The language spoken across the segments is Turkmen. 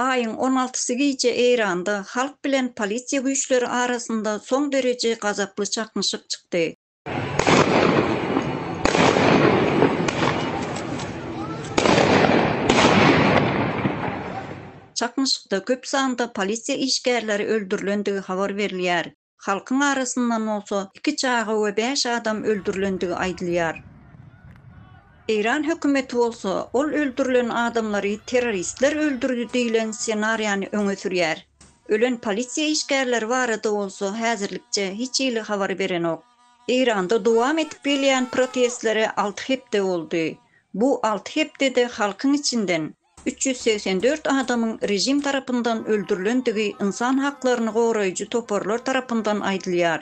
Aýyň on altysy gije Eýranda halk bilen polisiýa güýçleri arasynda soň dereje gazaply çaknyşyk çykdy. Çaknyşykda köp sanda polisiýa işgärleri öldürilendigi habar berilýär. Halkyň arasyndan bolsa iki çaga we bäş adam öldürilendigi aýdylýar. Eýran hökümeti bolsa ol öldürilen adamlary terroristler öldürdi diýlen ssenariýany öňe sürýär. Ölen polisiýa işgärleri barada bolsa häzirlikçe hiç hili habar berenok. Eýranda dowam edip gelýän protestlere alty hepde boldy. Bu alty hepdede halkyň içinden üç ýüz segsen dört adamyň režim tarapyndan öldürilendigi ynsan haklaryny goraýjy toparlar tarapyndan aýdylýar.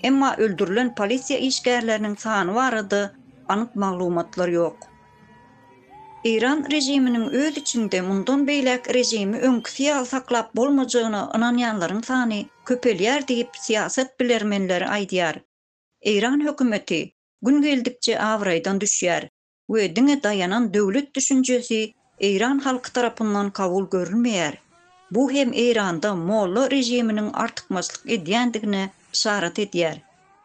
Emma öldürilen polisiýa işgärleriniň sany barada anyk maglumatlar ýok. Eýran režiminiň öz içinde mundan beýläk režimi öňküsi ýaly saklap bolmajagyna ynanýanlaryň sany köpelýär diýip, syýasat bilermenleri aýdýar. Eýran hökümeti gün geldikçe abraýdan düşýär we diňe daýanan döwlet düşünjesi eýran halky tarapyndan kabul görülmeýär. Bu hem Eýranda molla režiminiň artykmaçlyk edýändigine yşarat edýär.